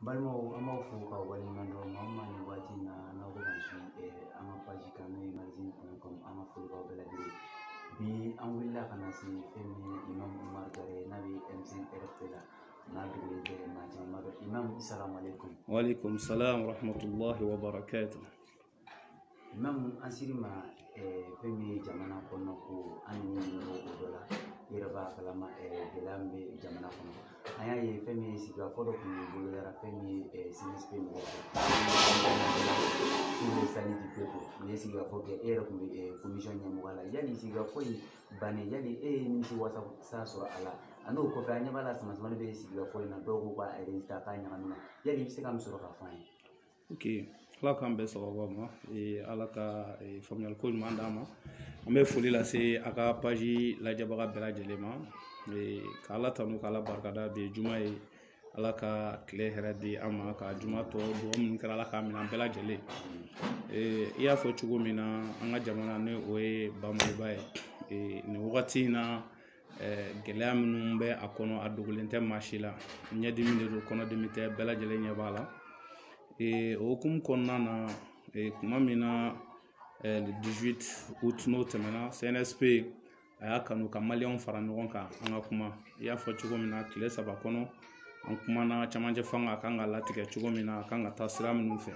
balimaw an b'aw fo k'aw waleɲuman dɔn maa min nin waati in na n'aw bɛ ka su an ka paji kan n'o ye mansin kun kɔnɔ an ka foli b'aw bɛɛ lajɛlen bi an wulila ka na se fɛn min ye imam umar jara n'a bɛ M5 RFP la n'a dogolen tɛ maa caman b'a dɔn imam salamalekum walekum salam wa rahmatulahi wa barakatuh Imamu an ser'i ma fɛn min ye jamana kɔnɔ ko an ni mɔgɔ ko dɔ la i yɛrɛ b'a kalama gɛlɛya min bɛ jamana kɔnɔ an y'a ye fɛn min ye sigikafɔ dɔ kun ye boloda fɛn min ye CNSP mɔgɔw fɛ n'o ye salut du peuple nin ye sigikafɔ kɛ e yɛrɛ kun bɛ komisɔn ɲɛmɔgɔ la yanni sigikafɔ in bannen yali e ye nimisi wasa sɔrɔ a la a n'o kɔfɛ an ɲɛ b'a la sama samani bɛ sigikafɔ in na dɔw ko k'a ta k'a ɲagami yali i bɛ se ka min sɔrɔ k'a fɔ an ye ok ala k'an bɛɛ sababu ma ala ka faamuyali ko ɲuman d'an ma an bɛ foli lase a ka paji lajɛbaga bɛɛ lajɛlen ma ka ala tanu ka ala barikada bi ye juma ye ala ka kile hɛrɛ di an ma ka juma tɔ dugawu minnu kɛra ala k'a minɛ an bɛɛ lajɛlen i y'a fɔ cogo min na an ka jamana ni o ye ba maliba ye nin wagati in na gɛlɛya minnu bɛ a kɔnɔ a dogolen tɛ maa si la ɲɛdimi de don kɔnɔdimi tɛ bɛɛ lajɛlen ɲɛ b'a la o hukumu kɔnɔna na kuma min na le 18 août n'o tɛmɛna CNSP a y'a kanu ka maliyɛnw fara ɲɔgɔn kan an ka kuma i y'a fɔ cogo min na kile saba kɔnɔ an kumana camancɛ fanga a kan ka latigɛ cogo min na a kan ka taa sira minnu fɛ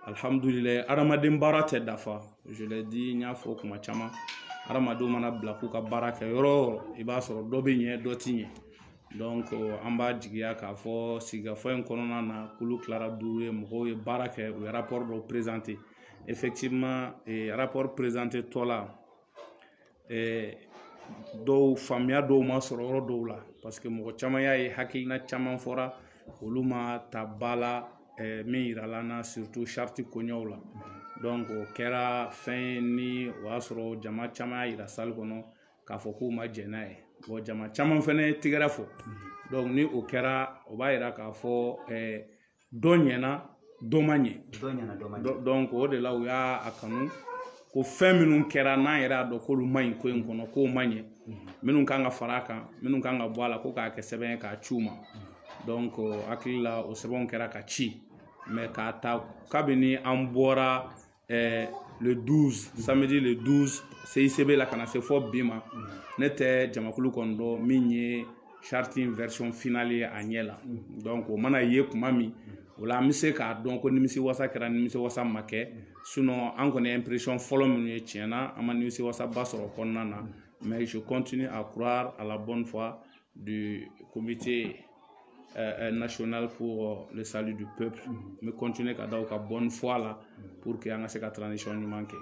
alihamudulilayi hadamaden baara tɛ dafa di n y'a fɔ kuma caman hadamadenw mana bila k'u ka baara kɛ yɔrɔ o yɔrɔ i b'a sɔrɔ dɔ bɛ ɲɛ dɔ ti ɲɛ donc an b'a jigiya k'a fɔ sigikafɔ in kɔnɔna na kulu kilara duuru ye mɔgɔw ye baara kɛ u ye rapport dɔ présenter effectivement rapport présenter tɔ la dɔw faamuya dɔw ma sɔrɔ yɔrɔ dɔw la parce que mɔgɔ caman y'a ye hakilina caman fɔra olu ma ta ba la min yirala an na surtout charte koɲɛw la donc o kɛra fɛn ye ni o y'a sɔrɔ jama caman y'a yira salle kɔnɔ k'a fɔ k'u ma jɛn n'a ye bon jama caman fɛnɛ tɛgɛrɛ fɔ donc ni o kɛra o b'a yira k'a fɔ dɔ ɲɛna dɔ ma ɲɛ donc o de la u y'a a kanu ko fɛn minnu kɛra n'an yɛrɛ y'a dɔn k'olu ma ɲi ko in kɔnɔ k'o ma ɲɛ minnu kan ka fara a kan minnu kan ka bɔ a la ko k'a kɛ sɛbɛn ye k'a ci u ma donc hakili la o sɛbɛnw kɛra ka ci mais k'a ta kabini an bɔra eh, le 12 samedi le 12 CICB la ka na se fɔ bi ma ne tɛ jamakulu kɔni dɔn min ye charte in version finale ye a ɲɛ la donc o mana ye kuma min o la an bɛ se k'a dɔn ko nimisi wasa kɛra nimisi wasa ma kɛ sinon an kɔni impression fɔlɔ minnu ye tiɲɛ na an ma nimisi wasaba sɔrɔ kɔnɔna na mais je continue à croire à la bonne foi du comité euh, euh, national pour euh, le salut du peuple mm-hmm. mais continuer ka da u ka bonne foi la mm-hmm. pour que an ka se ka transition ɲuman kɛ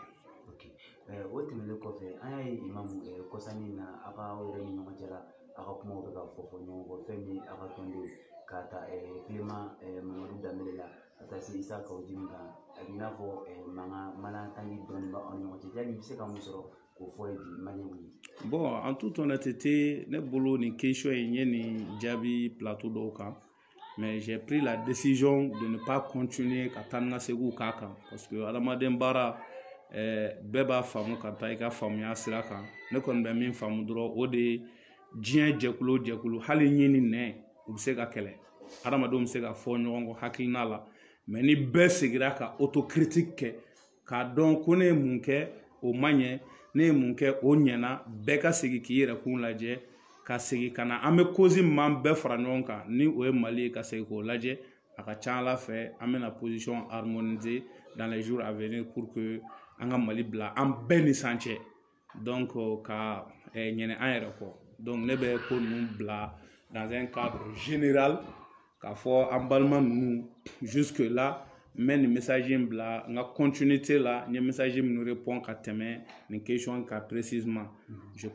o tɛmɛnen kɔfɛ an y'a ye imamu kɔsa nin na a ka aw yɛrɛ ni ɲɔgɔn cɛ la a ka kumaw bɛ ka fɔ fɔ ɲɔgɔn kɔ fɛn min a ka tɔnden ye k'a ta kilema mamadu danbele la ka taa se isa kaw jimi kan a b'i n'a fɔ mankan malentendu dɔɔni b'aw ni ɲɔgɔn cɛ yali i bɛ se ka mun sɔrɔ k'o fɔ ye bi man ɲi bon en toute honnêteté ne bolo nin question in n ye nin jaabi plateau dɔw kan mais j'ai pris la décision de ne pas continuer ka taa ni ka seginw k'a kan parce que adamaden baara bɛɛ b'a faamu ka taa i ka faamuya sira kan ne kɔni bɛ min faamu dɔrɔn o de ye diɲɛ jɛkulu o jɛkulu hali ɲi ni nɛn u bɛ se ka kɛlɛ adamadenw bɛ se ka fɔ ɲɔgɔn kɔ hakilina la mais ni bɛɛ sigira ka autocritique kɛ k'a dɔn ko ne ye mun kɛ o ma ɲɛ ne ye mun kɛ o ɲɛna bɛɛ ka segin k'i yɛrɛ kun lajɛ ka segin ka na an bɛ cause min b'an bɛɛ fara ɲɔgɔn kan ni o ye mali ye ka segin k'o lajɛ a ka ca a la fɛ an bɛna position harmoniser dans les jours à venir pour que an ka mali bila an bɛɛ ni san cɛ ka ɲinɛ an yɛrɛ kɔ ne bɛ ko ninnu bila ka k'a fɔ an balima ninnu la n bɛ nin misali in bila n ka la n ye misali minnu ka tɛmɛ nin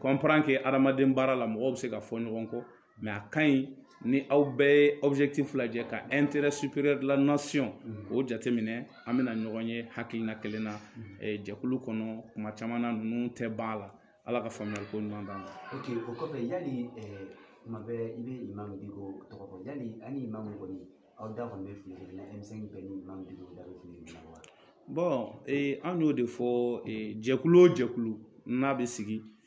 kan hadamaden baara la mɔgɔw bɛ se ka fɔ ɲɔgɔn kɔ mais a ka ɲi ni aw bɛɛ ye objectif lajɛ ka intérêt supérieur de la nation mm. o jateminɛ an bɛna ɲɔgɔn ye hakilina kelen na mm. eh, jɛkulu kɔnɔ kuma caman na ninnu tɛ ban a la ala ka faamuyali ko ɲuman d'an ma ok o kɔfɛ yali eh, kuma bɛɛ i bɛ imam diko tɔgɔ fɔ yali aw ni imam kɔni aw da kɔni bɛ file kelen na m5 bɛɛ ni imam diko da bɛ file kelen na wa bon eh, an y'o de fɔ jɛkulu o jɛkulu n'a bɛ sigi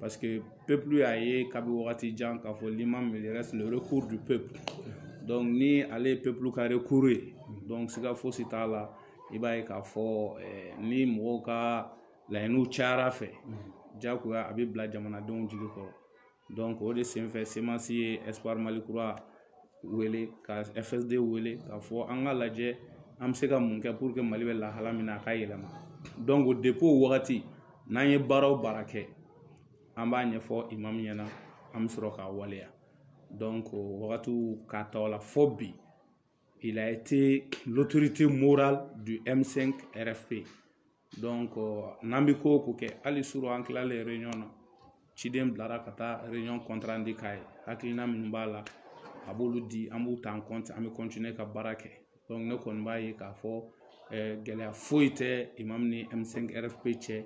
paseke pepulu y'a ye kabi wagati jan k'a fɔ n'i ma miiri ni ale ye pepulu ka ye siga fosi t'a la i b'a ye k'a fɔ ni mɔgɔw ka laɲiniw cayara fɛ jagoya a bɛ bila jamanadenw jigi kɔrɔ o de senfɛ semansi ye kura wele ka fsd wele k'a fɔ an ka lajɛ an bɛ se ka mun kɛ pour que mali bɛ lahala min na a ka yɛlɛma donc depuis o wagati n'an ye baara o baara kɛ an b'a ɲɛfɔ imam min ɲɛna an bɛ sɔrɔ k'a waleya donc wagatiw k'a ta o la fɔ bi il a été l'autorité morale du M5 RFP n'an bɛ ko o ko kɛ hali surɔ an tilalen ɲɔgɔn na ciden bilara ka taa compte rendu di k'a ye hakilina minnu b'a la a b'olu di an b'u ta an bɛ ka baara kɛ ne kɔni b'a ye k'a fɔ gɛlɛya foyi tɛ imamu ni m5 rfp cɛ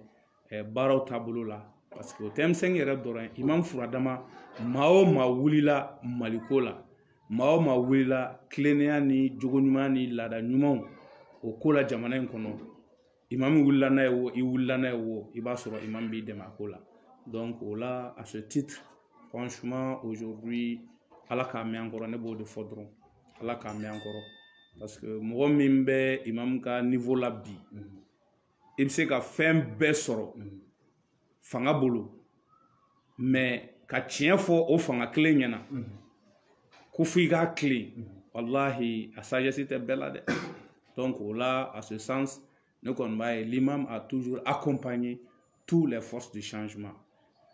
baaraw taabolo la paseke o tɛ m5 yɛrɛ dɔrɔn ye imamu fura dama maa o maa wulila maliko la maa o maa wulila tilennenya ni jogoɲumanya ni laada ɲumanw o ko la jamana in kɔnɔ imamu wulila n'a ye wo i wulila n'a ye wo i b'a sɔrɔ imamu b'i dɛmɛ a ko la donc o la à ce titre franchement aujourd'hui ala k'a mɛn an kɔrɔ ne b'o de fɔ dɔrɔn ala k'a mɛn an kɔrɔ parce que mɔgɔ min bɛ imamu ka niveau la bi i bɛ se ka fɛn bɛɛ sɔrɔ fanga bolo mɛ ka tiɲɛ fɔ o fanga kelen ɲɛ na ko fo i k'a tilen walahi a sagesse tɛ bɛɛ la dɛ donc o la à ce sens ne kɔni b'a ye l'imam a toujours accompagné tous les forces du changement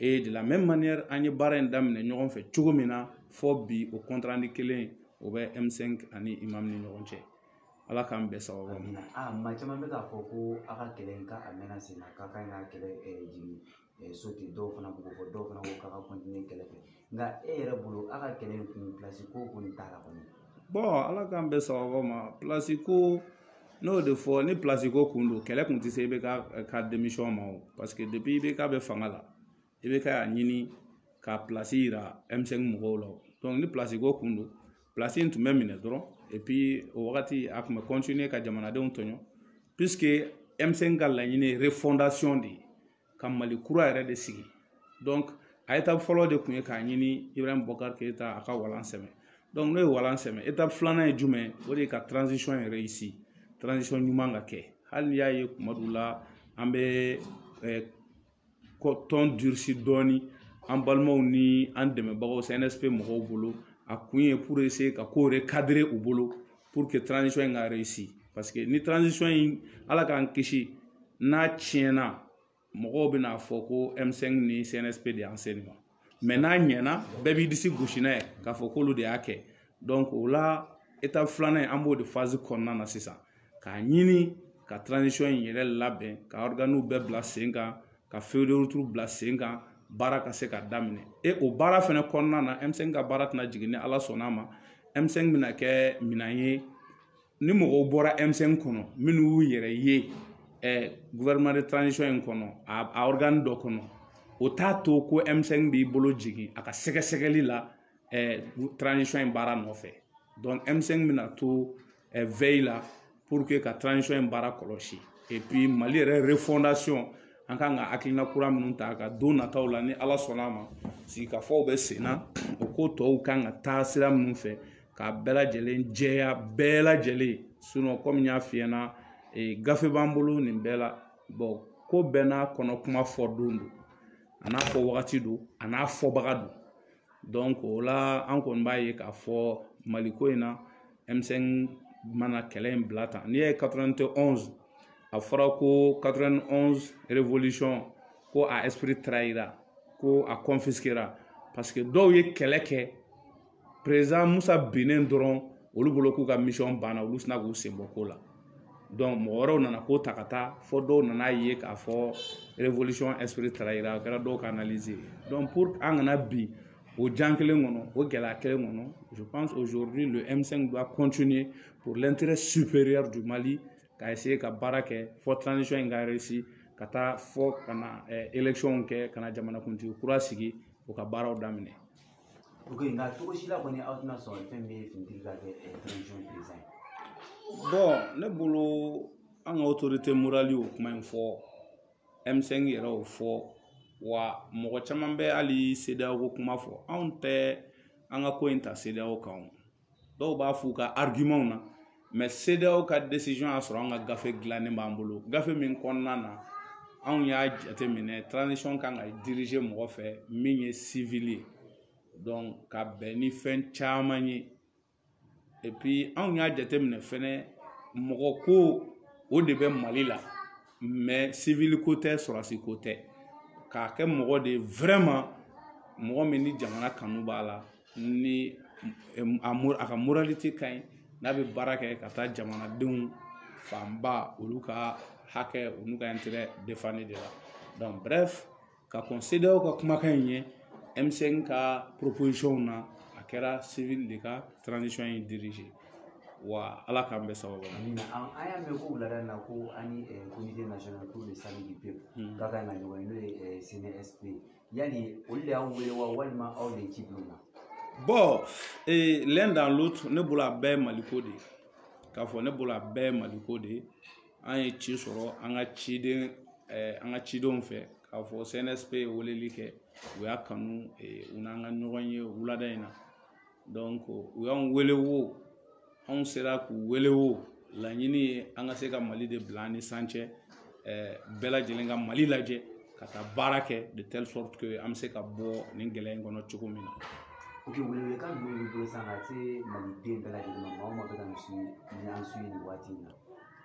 et de la même manière an ye baara in daminɛ ɲɔgɔn fɛ cogo min na fo bi o compte rendu kelen o bɛ m5 ani imam ni ɲɔgɔn cɛ ala k'an bɛn sababu ma a maa caman bɛ k'a fɔ ko a ka kɛlɛ in ka a mɛnna sen na k'a ka ɲi ka kɛlɛ jigin so ten dɔw fana b'o fɔ dɔw fana ko k'a ka kɛlɛ fɛ nka e yɛrɛ bolo a ka kɛlɛ in kun pilasi ko kɔni t'a la kɔni ala k'an bɛn sababu ma pilasi ko n'o de fɔ ni pilasi ko tun don kɛlɛ tun tɛ se ibk ka démission ma o paseke depuis ibk bɛ fanga la ibk y'a ɲini ka pilasi yira m5 mɔgɔw la ni pilasi ko tun don pilasi in tun bɛ minɛ dɔrɔn o wagati a tun bɛ ka jamanadenw tɔɲɔ m5 ka laɲini ye de ye ka mali kura yɛrɛ de sigi a étape fɔlɔ de tun ye k'a ɲini ibrahim bubakari keyita a ka walan sɛmɛ n'o ye walan sɛmɛ étape filanan ye jumɛn ye o de ye ka yɛlɛma ɲuman ka kɛ hali n'i y'a ye kuma dɔw la an bɛ kɔ tɔn durusi dɔɔni an balimaw ni an dɛmɛbagaw sɛnɛsɛ mɔgɔw bolo a kun ye ka ko yɛrɛ kadɛrɛ u bolo in ka paseke ni in ala k'an kisi n'a tiɲɛna mɔgɔw bɛna fɔ ko emisɛn ni sɛnɛ de y'an seli ma mɛ n'a ɲɛna bɛɛ b'i disi gosi n'a ye k'a fɔ k'olu de y'a kɛ donc o la étape filanan an b'o de fazi kɔnɔna na sisan k'a ɲini ka tranzisɔn in yɛrɛ labɛn ka ɔriganiw bɛɛ bila sen kan ka feuille de route bila sen kan baara ka se ka daminɛ e o baara fana kɔnɔna na m5 ka baara tɛna jigin ni ala sɔnna a ma m5 bɛna kɛ minan ye ni mɔgɔw bɔra M5 kɔnɔ minnu y'u yɛrɛ ye gouvernement de transition in kɔnɔ a organe dɔ kɔnɔ o t'a to ko M5 b'i bolo jigin a ka sɛgɛsɛgɛli la transition in baara nɔfɛ donc M5 bɛna to veille la pour que ka transition in baara kɔlɔsi et puis mali yɛrɛ refondation an kan ka hakilina kura minnu ta ka don nataw la ni ala sɔnna a ma sigikafɔw bɛ sen na o ko tɔw kan ka taa sira minnu fɛ ka bɛɛ lajɛlen jɛya bɛɛ lajɛlen kɔmi n y'a f'i ɲɛna gafe b'an bolo nin bɛɛ la ko bɛɛ n'a kɔnɔ kuma fɔ don don a n'a fɔ wagati don a n'a fɔbaga don o la an kɔni b'a ye k'a fɔ maliko in na M5 mana kɛlɛ in bila tan n'i ye 91 a fɔra ko 91 ko a esprit taara yira ko a kɔnfisikera parce que dɔw ye kɛlɛ kɛ président musa binnen dɔrɔn olu bolo k'u ka mission banna olu sina k'u senbɔ ko la mɔgɔ wɛrɛw nana ko ta ka taa fɔ dɔw nana ye k'a fɔ taara yira a kɛra dɔw ka an kana bin o jan kelen kɔnɔ o gɛlɛya kelen kɔnɔ je pense aujourd'hui le M5 doit continuer pour l'intérêt supérieur du Mali ka essayer ka baara kɛ fɔ transition in ka réussir ka taa fɔ ka na élection kɛ ka na jamanakuntigi kura sigi o ka baaraw daminɛ ok nka cogo si la kɔni aw tɛna sɔn fɛn bɛ finitigi ka kɛ transition président ye bon ne bolo an ka autorité morale y'o kuma in fɔ m5 yɛrɛ y'o fɔ wa mɔgɔ caman bɛ hali CEDEAO kuma fɔ anw tɛ an ka ko in ta CEDEAO kan o dɔw b'a f'u ka arguments na mais CEDEAO ka decision y'a sɔrɔ an ka gafe dilannen b'an bolo gafe min kɔnɔna na anw y'a jateminɛ transition kan ka dirige mɔgɔ fɛ min ye civil ye donc ka bɛn ni fɛn caman ye et puis anw y'a jateminɛ fɛnɛ mɔgɔ ko o de bɛ mali la mais civil ko tɛ sɔrɔdasi ko tɛ k'a kɛ mɔgɔ de ye vraiment mɔgɔ min ni jamana kanu b'a la ni a a ka moralité ka ɲi n'a bɛ baara kɛ ka taa jamanadenw fanba olu ka hakɛ olu ka intérêt défendre de la donc bref ka kɔn CEDEAO ka kumakan in ɲɛ M5 ka proposition na a kɛra civil de ka transition in dirige wa ala k'an bɛɛ sababu an y'a mɛn ko wulada in na ko aw ni comité national pour le salut du peuple k'a ka na ɲɔgɔn ye n'o ye cnsp yali olu de y'aw wele wa walima aw de ci don na bon eh, l'un dans l'autre ne bolo a bɛɛ ye maliko de ye k'a fɔ ne bolo a bɛɛ ye maliko de ye an ye ci sɔrɔ an ka ciden eh, an ka cidenw fɛ k'a fɔ cnsp ye weleli kɛ u y'a kanu eh, u n'an ka ɲɔgɔn ye wulada in na donc u y'an wele wo anw sera k'u wele o laɲini ye an ka se ka mali de bila an ni san cɛ bɛɛ lajɛlen ka mali lajɛ ka taa baara kɛ de telle sorte que an bɛ se ka bɔ nin gɛlɛya in kɔnɔ cogo min na oke welekan jumɛn b'i bolo sisan ka se maliden bɛɛ lajɛlen ma maa o maa bɛ ka nin su ni an su nin waati in na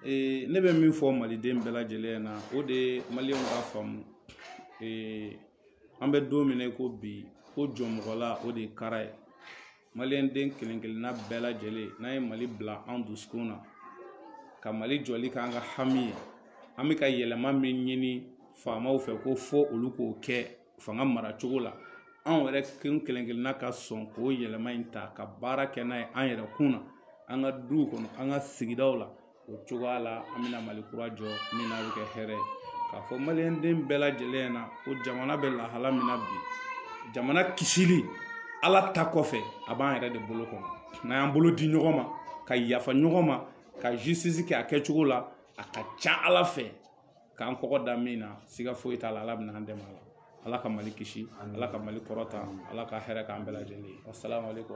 ee ne bɛ min fɔ maliden bɛɛ lajɛlen na o de ye maliyɛnw k'a faamu ee an bɛ don min na i ko bi ko jɔnmɔgɔla o de ye kara ye maliyɛnden kelen kelenna bɛɛ lajɛlen n'an ye mali bila an dusukun na ka mali jɔli k'an ka hami ye an bɛ ka yɛlɛma min ɲini faamaw fɛ ko fo olu k'o kɛ fanga mara cogo la anw yɛrɛ kun kelen kelenna ka sɔn k'o yɛlɛma in ta ka baara kɛ n'a ye an yɛrɛ kun na an ka duw kɔnɔ an ka sigidaw la o cogoya la an bɛna mali kura jɔ min na bɛ kɛ hɛrɛ ye k'a fɔ maliyɛnden bɛɛ lajɛlen na ko jamana bɛ lahala min na bi jamana kisili ala ta kɔfɛ a b'an yɛrɛ de bolo kɔnɔ n'an y'an bolo di ɲɔgɔn ma ka yafa ɲɔgɔn ma ka justice kɛ a kɛcogo la a ka ca ala fɛ k'an kɔgɔ da min na siga foyi t'a la ala bɛna an dɛmɛ a la ala ka mali kisi ala ka mali kɔrɔta ala ka hɛrɛ k'an bɛɛ lajɛlen ye asalaamaaleykum